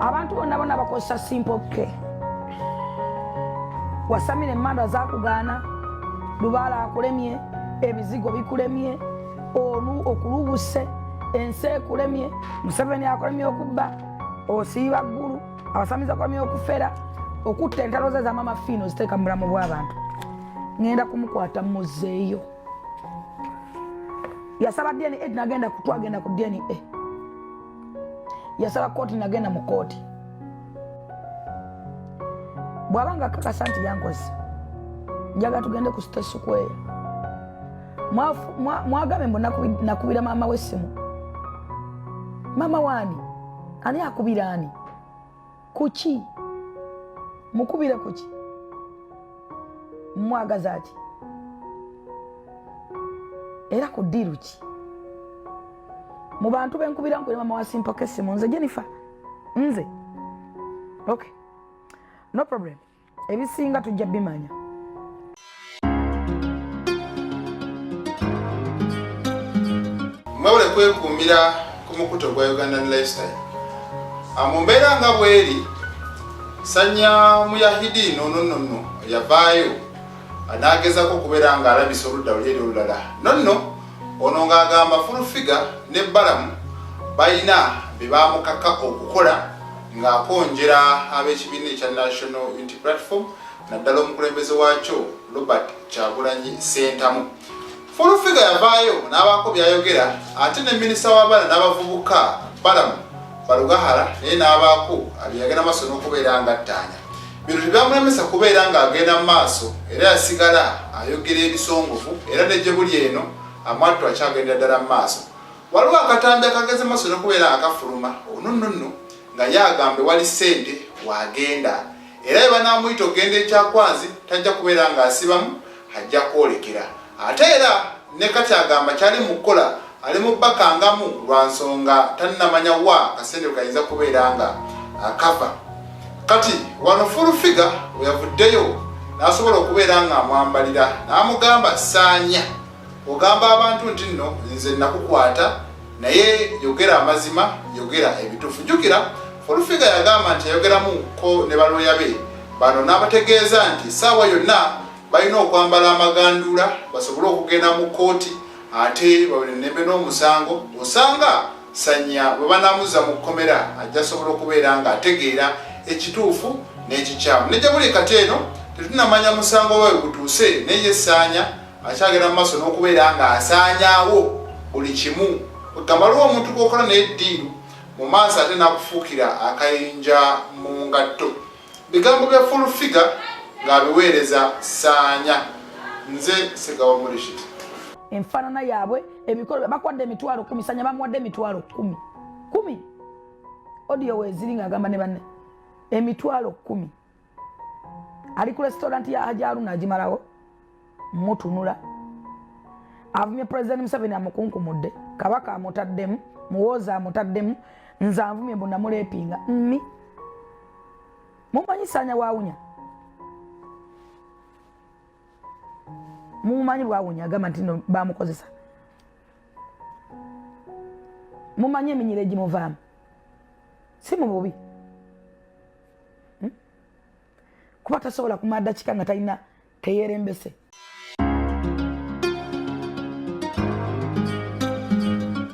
abantu bonna bona bakozesa simple k wasamira emandwa zakugaana lubaala akulemye ebizigo bikulemye olu okulubuse ensi ekulemye museveni akulemye okubba osiiba ggulu abasamizi akulemye okufera okutta entalo ze zamama fiino ziteeka mu bulamu bw'abantu ŋenda kumukwata muzeeyo yasaba dna eh, nagenda twagenda ku dna eh. yasaba kooti nagenda mu kooti bwaba nga kakasa nti yankozi njaga tugende ku sitesikweya mwagambe mbu nakubira maama wesimu maama wani ani akubira ani kuki mukubire kuki mwagaza ki era ku diiru ki mu bantu benkubira nkubira mama wasimpaka essimu nze jennifer nze okay no problem ebisinga tujja bimanya mwebale kwekuumira ku mukuto gwa ugandan lifestyle ah, mu mbeera nga bweri sanya muyahidi nonononno yavaayo ah, nagezako okubeera nga alabisa oludda luli eri olulala nonno ono ng'agamba fulfiga ne balamu balina bebamukaka okukola ng'akonjera ab'ekibiina ekya national unity platform naddala omukulembeze waakyo robert kyagulanyi sentamu fulufiga yavaayo n'abaako byayogera ate ne minisita w'abaana n'abavubuka balamu balugahara naye n'abaako abyeyagenda maaso n'okubeera ngattaanya bino tebyamulemesa kubeera ng'agenda mu maaso era yasigala ayogera ebisongovu era ne gye buli eno amwattu akyagendera ddala mu maaso Waliwo akatambi akageze maso nokubeera akafuluma onununnu nga ye agambe wali ssente wagenda era webanamuyita okugenda ekyakwanzi tajja kubeera nga asibamu ajja kwolekera ate era ne kati agamba kyali mu kukola ali mu bakangamu lwa nsonga tannamanya wa kasente kayinza kubeera nga akava kati wano fulufiga weyavuddeyo n'asobola okubeera ng'amwambalira n'amugamba saanya ogamba abantu nti nno nze nakukwata naye yogera amazima yogera ebitufu jukira olufiga yagamba nti ayogeramu ko ne baloya be bano n'abategeeza nti saawa yonna balina okwambala amagandula basobole okugenda mu kooti ate bawenenembe n'omusango osanga sanya bwe banamuza mu kkomera ajja sobola okubeera nga ategeera ekituufu n'ekikyamu nejja buli kati eno tetunamanya musango wawe gutuuse naye saanya akyagenda mu maaso n'okubeera ng'asaanyaawo buli kimu kwegamba lwo omuntu gwokola naye ddiiru mu maaso ate n'akufuukira akayinja mu ngatto bigambo bya full figure ng'abiweereza saanya nze segawa mulishiti enfaanana yaabwe ebikolo bakuwadde emitwalo kumi sanya bamuwadde emitwalo kumi kumi odiyo weeziri ng'agamba ne banne emitwalo kumi ali ku restaurant ya haji aruna agimalawo mutunula avumye president museveni amukunkumudde kabaka amutaddemu muwooza amutaddemu nze anvumye mbu namulepinga mi mumanyi sanya wawunya mumanyi bwawunya agamba nti no bamukozesa mumanyi eminyira egimuvaamu si mu bubi hmm? kuba tasobola kumala dakika nga talina keyerembese